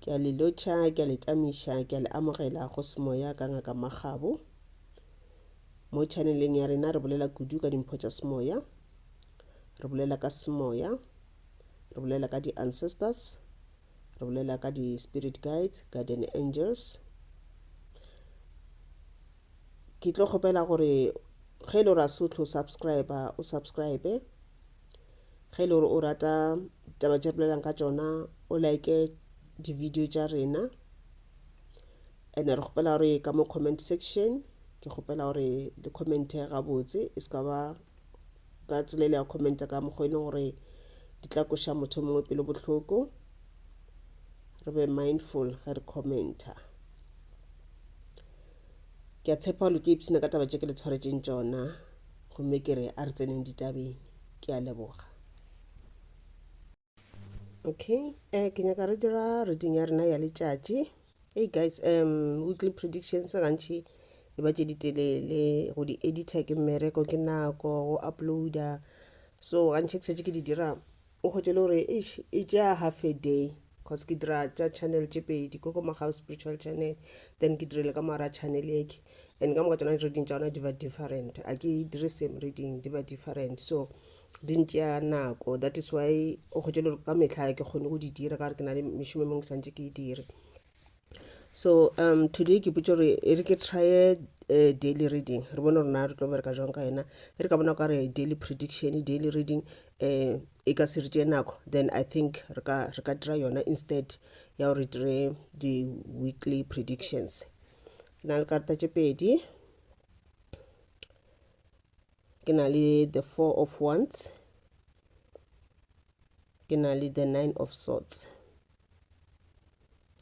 Ke a le lotšha, ke a le tamiša, ke a le amogela go semoya ka Ngaka Makgabo. Mo chaneleng ya rena re bolela kudu ka dimpho tša semoya, re bolela ka semoya, re bolela ka di-ancestors, re bolela ka di-spirit guides, guardian angels. ke tlo kgopela gore ge e le gore a se o tlo subscribe o subscribe ge e le gore o rata taba tše bolelang ka tšona o like di-video tša rena and re kgopela gore ka mo comment section ke kgopela gore le commente gabotse e se ka ba ka tsela ile ya commenta ka mokgwa e leng gore di tla koša motho o mongwe pelo bohloko re be mindful ge re commenta ke a tshepa gore ke ipshina ka taba tše ke le tshwaretseng tšona gomme ke re a re tseneng ditabeng ke a leboga okay um ke nyaka re dira reading ya rena ya letšatši hey guys um weekly predictions gantši e ba tše ditelele go di editor ke mmereko ke nako go uploader so gantši ke setse ke di dira o kgotse le gore e tšea half a day cause ke dira tša channel tše pedi ko ko magao spiritual channel then ke direle ka mara channel eke and ka moka tsona reading tša ona di ba different a ke dire same reading di ba different so di ntšea nako that is why o kgwetše le ka mehla ke kgone go di dira ka gore ke na le mešomo e mongwe ke santse ke e dire so um today ke potse gore e re ke trye uh, daily reading re bone rona re tlo bereka jwang ka yena e re ka bona ka re daily prediction daily reading um e ka se re tšee nako then i think re ka re ka dira yona instead ya gore dire di-weekly predictions na le karata tše pedi ke na le the four of wands ke na le the nine of swords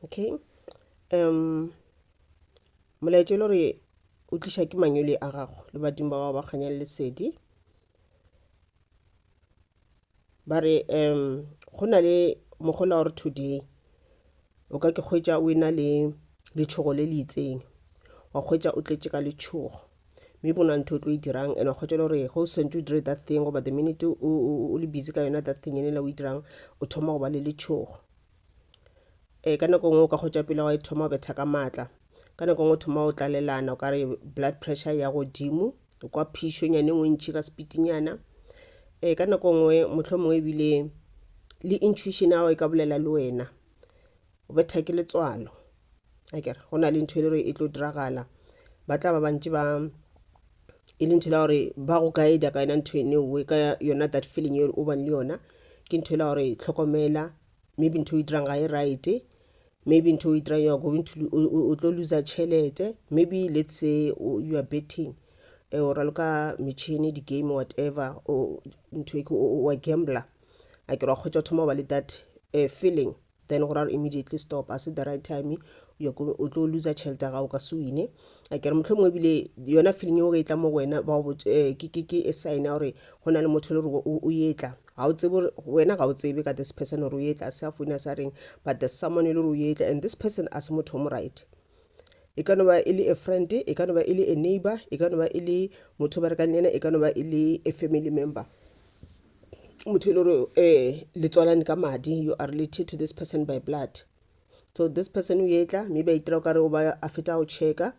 okay um molaetša e le gore o tliša ke manyole a gago le badimo ba gago ba kganya le lesedi ba re um go na le mogola wa re today o ka ke kgwetsa o ena le letšhogo le le itseng wa kgwetsa o tletše ka letšhogo mme bona ntho o tlo e dirang and wa kgwetsa le gore go sentse o dire that thing goba the minute o le busy ka yona that thing ene la o e dirang o thoma go ba le letšhogo ee ka nako ngwe o ka kgotša pele wa e thoma o betha ka maatla ka nako ngwe o thoma o tlalelana o ka re blood pressure ya godimo o kwa phišo nyane ngwe ntšhi ka sepitinyana ee ka nako ngwe motlho mongwe ebile le intuition ao e ka bolela le wena o betha ke letswalo akere go na le ntho e le re e tlo diragala ba tla ba bantši ba e le ntho la gore ba go guida ka yona ntho ene oe ka yona that feeling e o bang le yona ke ntho la gore tlhokomela maybe ntho o itirang ga e right maybe ntho o itirang you are going to o tlo loser tšhelete maybe let's say you are betting eh, o raloka metšhini di-game whatever ntho e ke wa gambler a ke ra kgwetsa thoma ba le that uh, feeling then go raro immediately stop a se the right time o tlo loser tšhelete ya gago ka se wine a kere motlho mongwe ebile yona feeling eo ge e tla mo go wena ba go eh, ke e sign ya gore go na le motho le gore o etla ga o tsebe wena ga o tsebe ka this person gore o ye tlase a foune a sa reng but there's someone e le gore o ye tla and this person a se motho o mo right e ka no ba e le a friend e ka no ba e le a neighbor e ka no ba e le motho ba rekang le ena e ka no ba e le a family member motho e le gore um eh, le tswalane ka madi you are related to this person by blood so this person o etla mme ba itira o kare o ba a feta go checka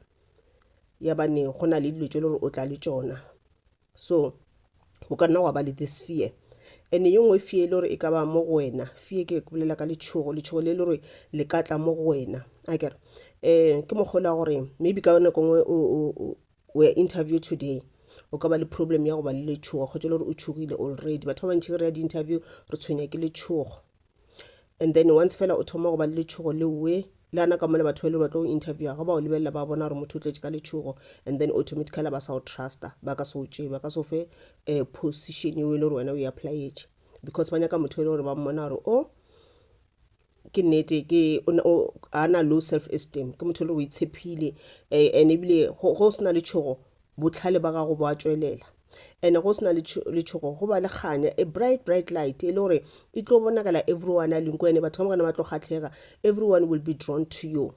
ya bane go na le dilo tse e le gore o tla le tsona so o ka nna wa ba le this fear ene ye nngwe fee e le gore e ka ba mo go wena fee ke bolela ka letšhogo letšhogo le le gore le ka tla mo go wena a kere um ke mokgolo wa gore maybe ka nako nngwe o ya interview today o ka ba le problem ya go ba le letšhogo kgotsa le gore o tšhogile already batho ba bantšhi re ya di-interview re tshwenya ke letšhogo and then once fela o thoma go ba le letšhogo le we le ana ka mona batho ba ile ba tlo interviewa ga ba o lebelela ba bona gore motho o tletše ka letšhogo and then automatically ba sa o trusta ba ka se o tšee ba ka se o fe um position eo e le gore wena o e applyetše because ba nyaka motho e le gore ba mmona gore o ke nnete ke a na low self esteem ke motho e le gore o itshepile um and ebile go se na letšhogo botlhale ba gago bo a tšwelela and go sena letšhogo go ba le kganya a bright bright light e le gore e tlo bonagela everyone a linko ene batho ka mokana ba tlo kgatlhega everyone will be drawn to you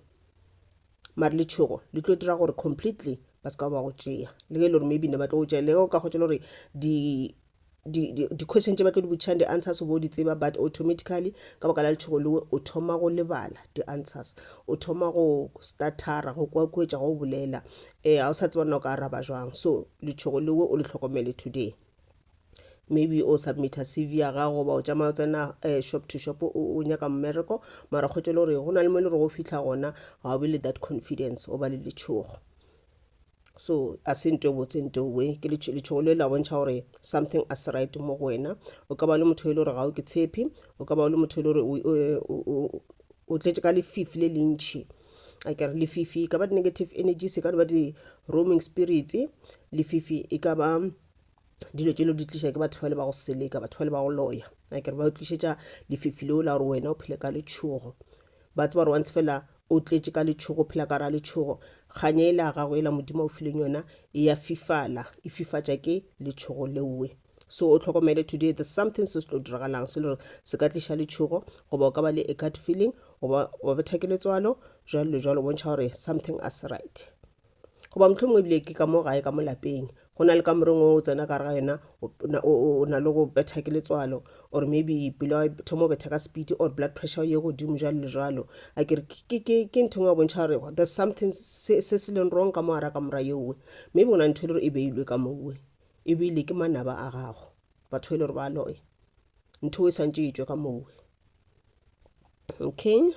mare letšhogo le tlo dira gore completely ba se ka ba go tšea le ge e le gore maybe ne ba tlo go tšea le go ka kgotsa le gore di-question tše ba tlo di botšhang di-answers bo di tseba but automatically ka baka la letšhogo lewe o thoma go lebala di-answers o thoma go startara go kwakwetša go bolela Ee, ga o sa tseba nna o ka araba jwang. So, letšhogo lewe o le hlokomele today. Maybe o submita CV ya gago goba o tšamaya o tsena eh, shop to shop o o nyaka mmereko, mara kgotso le gore go na le mo e le gore o fitlha gona ga o be le that confidence, o ba le letšhogo. So, a se nto e botse nto we, ke letšho- letšhogo le la bontšha gore something a se right mo go wena. O ka ba o le motho e le gore ga o ke tshepi, o ka ba o le motho e le gore o- o- o- o tletše ka lefifi le lentšhi. a kere lefifi e ka ba di-negative energy se ka di ba di-roaming spirits lefifi e ka ba dilo tše lo di tliša ke batho ba le ba go seleka batho ba le ba go loya a kere ba tlišetša lefifi leo la gore wena o phele ka letšhogo ba tseba gore wantse fela o tletše ka letšhogo phela ka ra letšhogo kganye e la gago e la modimo o fileng yona e ya fifala e fifatša ke letšhogo leoe So o hlokomele today there's something se se tlo diragalang se lore se ka tliša letšhogo goba o ka ba le a gut feeling goba wa betha ke letswalo jalo le jalo bontšha gore something a se right goba motlho mongwe ebile ke ka mo gae ka mo lapeng go na le ka moreng o tsena ka re ga yona o na- o- o- o na le go betha ke letswalo or maybe pelo ya thoma o betha ka speed or blood pressure ye godimo jalo le jalo a ke re ke- ke ke ntho engwe ya bontšha gore there's something se se se leng wrong ka mo ara ka mora yeowe maybe go na le ntho e le gore e beilwe ka mowe Ebile ke manaba a gago. Batho e le gore ba loya. Ntho e santše e tšwe ka moo. Okay.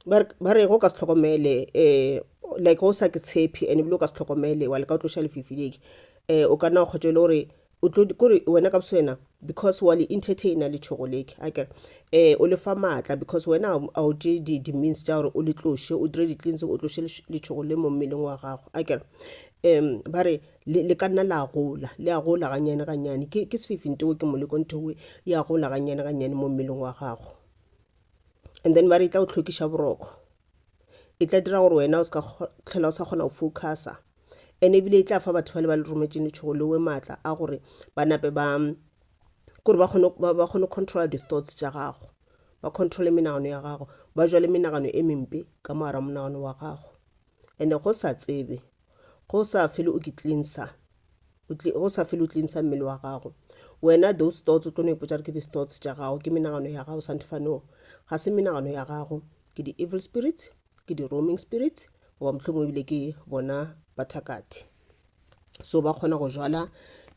Ba re go ka se tlhokomele um like go sa ke tshepe and ebile o ka se tlhokomele wa leka go tloša lefifi le um o ka nna wa kgotša e le gore kore wena ka boswena because wa le entertainer letšhogo le akere um o le fa maatla because wena a o tše di-means tša gore o le tloše o dire di-cleansing o tloše letšhogo le mo mmeleng wa gago akere um ba re le, le ka nna la gola le a gola ganyane ganyane ke, ke sefifinteo ke moleko ntheoe e a gola ganyane ganyane mo mmeleng wa gago and then ba re e tla go tlhokiša boroko e tla dira gore wena o ska tlhola o sa kgona go focusa and ebile e tla fa batho bale ba le rometšeng letšhogo leoe maatla a gore ba nape ba kore ba kgone ba kgone controla di-thoughts tša gago ba controle menagano ya gago ba jale menagano e mempe ka moara monagano wa gago and go sa tsebe go sa fele o ke cleanser go sa fele o cleanser mmele wa gago wena those thoughts o tlo no ipotsa re ke di-thoughts tša gago ke menagano ya gago santefa no ga se menagano ya gago ke di-evil spirits ke di-roaming spirits goba mohlomong ebile ke bona bathakathe so ba kgona go jala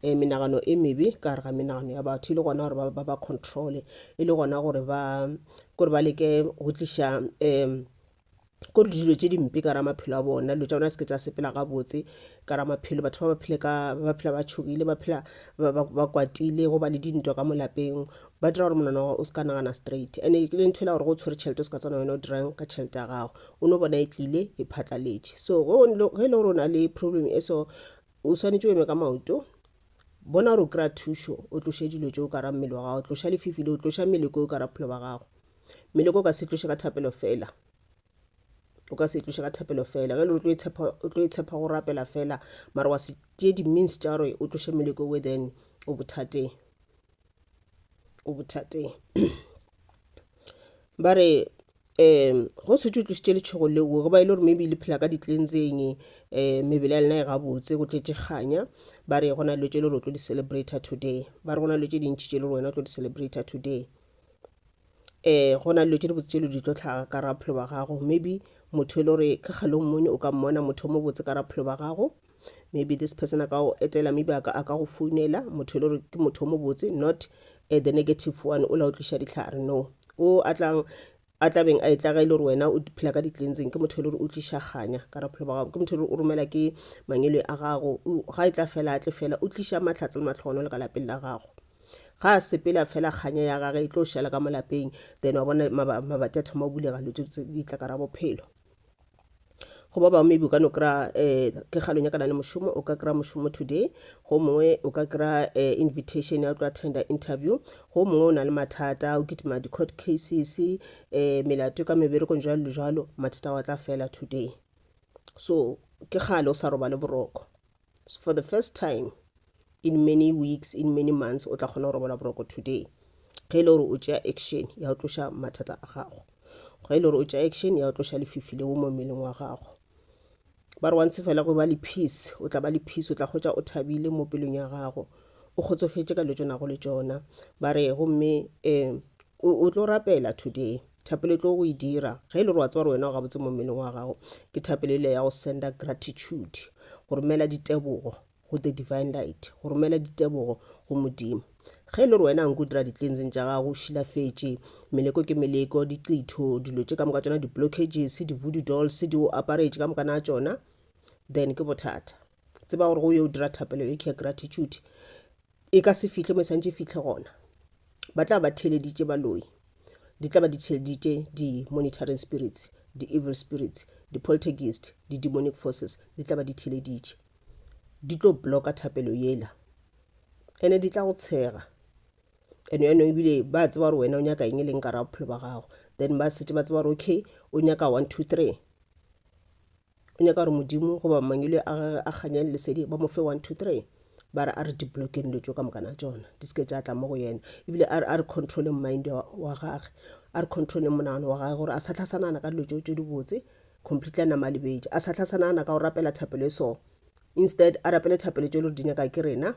um menagano e mebe ka gare ga menagano ya batho e le gona gore ba ba controle e le gona gore ba kore ba leke go tliša um ko le dilo tše dimpe ka ra maphelo a bona dilo tša bona se ke tša sepela gabotse ka ra maphelo batho ba ba phele ka ba phela ba tšhogile ba phela ba kwatile go ba le dintwa ka molapeng ba dira gore monana o se ka nagana straight and e le ntho e la gore go tshwere tšhelete o se ka tsana wena o dirang ka tšhelete ya gago o no bona e tlile e phatlaletše so ge e le gore o na le problem e so o swanetše o eme ka maoto bona gore o kry-a thušo o tloše dilo tšeo ka ra mmele wa gago tloša lefifi le o tloša mmele ko o ka ra phelo ba gago Meloko o ka se e tloše ka thapelo fela o ka se e tloše ka thapelo fela ge le o tlo e tshepa go rapela fela mara wa se tšee di-means tša gore o tloše meloko we then o bothateng o bothateng ba re um go setse o tlositše letšhogo leo go ba e le gore maybe le phela ka ditlenseng um eh, mebele ya lena e gabotse go tletse kganya ba re go na le tse le gore o tlo di-celebrata today ba re go na le tse dintšhi tse le gore wena o tlo di-celebrata today um go na le dilo tše dibotse tše le di tlo hlaga ka ra bophelo ba gago maybe motho e le gore ka kgale o mmone o ka mmona motho o mo botse ka ra bophelo ba gago maybe this person a ka go etela maybe a ka a ka go founela motho e le gore ke motho o mo botse not eh, the negative one o la o tliša dihlare no o a tlang A tla beng a etla ga e le gore wena o phela ka ditlentseng, ke motho e le gore o tliša kganya ka raphelo ba gago, ke motho e le gore o romela ke mangele a gago, ga e tla fela a tle fela, o tliša mahlatse le matlhogono le ka lapeng la gago. Ga a sepela fela kganya ya gage e tlo šala ka mo lapeng, then wa bona mabati a thoma go bulega, dilo tse di tla ka ra bophelo. go ba bangwe maybe o ka no kry-a um ke ga lo nyakana le mošomo o ka kry-a mošomo today go mongwe o ka kry-a um invitation ya tlo attenda interview go mongwe o na le mathata o kitima di-court cases um melato ka meberekong jalo le jalo mathata wa tla fela today so ke gale o sa robale boroko so for the first time in many weeks in many months o tla kgona go robala boroko today ge e le gore o tšea action ya go tloša mathata a gago ge e le gore o tšea action ya go tloša lefifi leo mo mmeleng wa gago ba re wantse fela go ba le peace o tla ba le peace o tla kgotsa o thabile mo pelong ya gago o kgotsofetše ka le tšonago le tšona ba re gomme um o tlo rapela today Thapelo e tlo go e dira. Ge e le gore wa tseba gore wena o gabotse mo mmeleng wa gago, ke thapelo ele ya go senda gratitude, go romela ditebogo go the divine light, go romela ditebogo go Modimo. Ge e le gore wena a nke o dira di-cleansing tša gago, o šilafetše, meleko ke meleko, diqitho, dilo tše ka moka tšona di-blockages, di-voodoo dolls di o aparetše ka moka na tšona, then ke bothata. Tseba gore go yo o dira thapelo e ke ya gratitude, e ka se fihle mo e santše e fihle gona ba tla ba theleditše baloi di tla ba di theleditše di-monitoring spirits di-evil spirits di-poltergeist di-demonic forces di tla ba di theleditše di tlo blocka thapelo yela ene di tla go tshega and yaanong ebile ba tseba gore wena o nyaka eng e leng ka ra bophelo ba gago then ba setse ba tseba gore okay o nyaka one two three o nyaka gore modimo goba mangwele a gage a kganyang lesedi ba mo fe 1 2 3 ba re a re dibloke dilo tso ka mokana tsona di seke tša tla mo go yena ebile a re controle mind wa gage a re controle monagano wa gage gore a sa tlhasanana ka dilo tso tso dibotse completely a nama a lebetše a sa tlhasanana ka go rapela thapelo e so instead a rapele thapelo tso e le gore di nyaka ke rena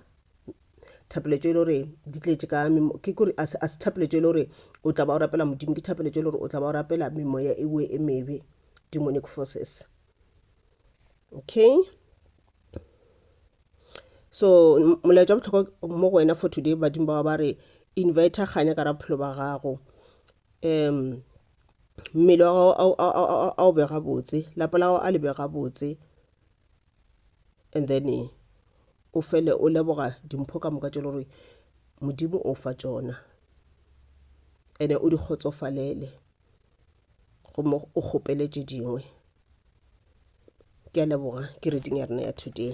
thapelo tso e le gore di tletše ka ke kore a se thapelo tso e le gore o tla ba o rapela modimo ke thapelo tso e le gore o tla ba o rapela memoya ewe e mebe demonic forces okay so molaetša wa bohlokwa mo go wena for today badimo bao ba re invita kganya ka ra bophelo ba gago um mmele wa gago a o bega botse lapa la gago a le bega botse and then eh, o fele o leboga dimpho ka moka tše le gore modimo o fa tšona ene o di kgotsofalele gomme o kgopele tše dingwe ke a leboga ke reading ya rena ya today